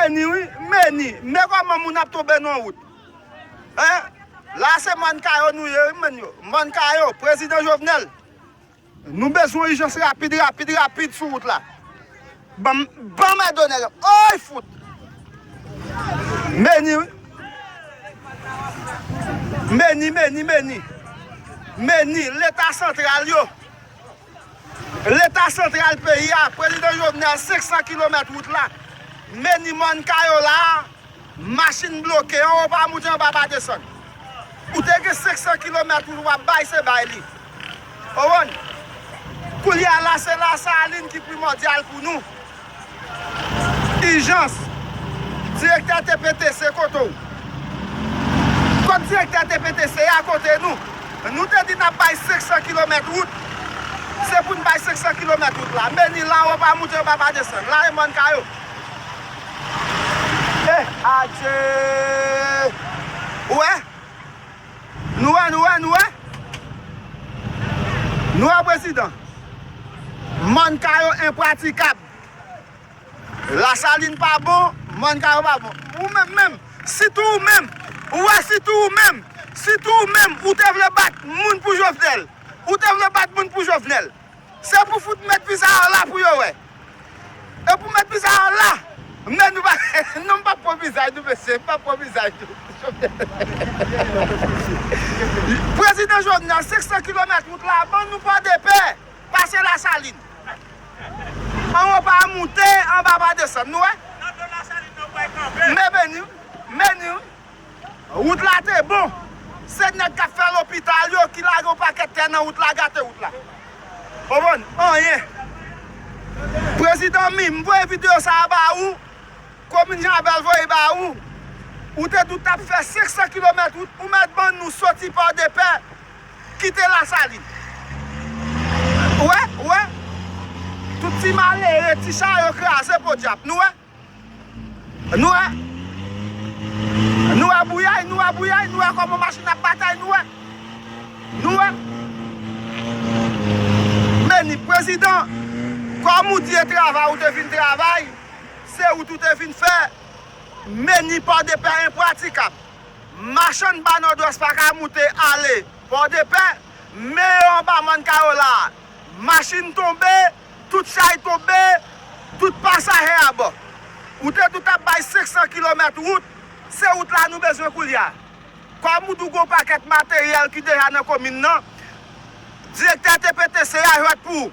Meni wi meni men koman moun ap tonbe nan wout hein la se mòn kayo nou ye wi meni yo mòn kayo prezidan jovenel nou bezwen ijans rapid rapid rapid sou wout la banm banm èd onèg ooy fout meni wi meni meni meni meni leta santral yo. Leta santral peyi a, Prezidan Jovenel 500 kilomèt wout la, meni mòn kay w la a, machin bloke, anwo pa moute anba pa desann. Ou te gen 500 kilomèt wout w ap bay se bay li. Ou konprann? Koulye a la se Lasalin ki primòdyal pou nou. Ijans! Direktè TPTC kote w? Kot direktè TPTC a kote nou? Nou te di nap bay 500 kilomèt wout, se pou n bay 500 kilomèt wout la. Meni la yo pa moute yo pa pa desann. La e mòn ka yo. Eh adjee! Ou wè? Nou wè, nou wè, nou wè. Nou wè prezidan. Mòn kayo enpratikab. Lasalin pa bon, mòn kayo pa bon. Ou menm menm, sitou ou menm, ou wè sitou ou menm, sitou ou menm ou te vle bat moun pou Jovenel. Ou te vle bat moun pou Jovenel. Se pou fout met pizarro la pou yo wè. E pou met pizarro la men nou pa non m pap pran vizaj nou mesye m pap pran vizaj nou prezidan jovenel 500 kilomèt wout la ban nou pòdepè pase lasalin anwo pa moute anba pa desann nou wè mè meni w meni w. Wout la te bon. Se nèg kap fè lopital yo ki lage yon pakèt tè nan wout la gate wout la. Konprann? Anyen. Prezidan min, m voye video sa a ba ou, komin Janbèl voye ba ou. Ou te di w tap fè 500 kilomèt wout, ou mèt ban nou soti Pòdepè, kite Lasalin. Ou wè? Ou wè? Tout ti malere, ti charyo kraze podyab. Nou wè? Nou wè? Nou wè bouyay, nou wè bouyay, nou wè kòman machin ap batay, nou wè? Nou wè? Meni, Prezidan, kòm ou di e travay ou te vin travay, se wout ou te vin fè, meni Pòdepè enpratikab. Machann ba Nòdwès pa ka moute ale Pòdepè, men yo anba Mòn Kayola a. Machin tonbe, Tout chay tonbe, tout pasahè abò. Ou te di w t ap bay 500 kilomèt wout, se wout la nou bezwen koulye a. Kòm ou di w gen yon pakèt materyèl ki deja nan komin nan, direktè TPTC a jwèt pou ou.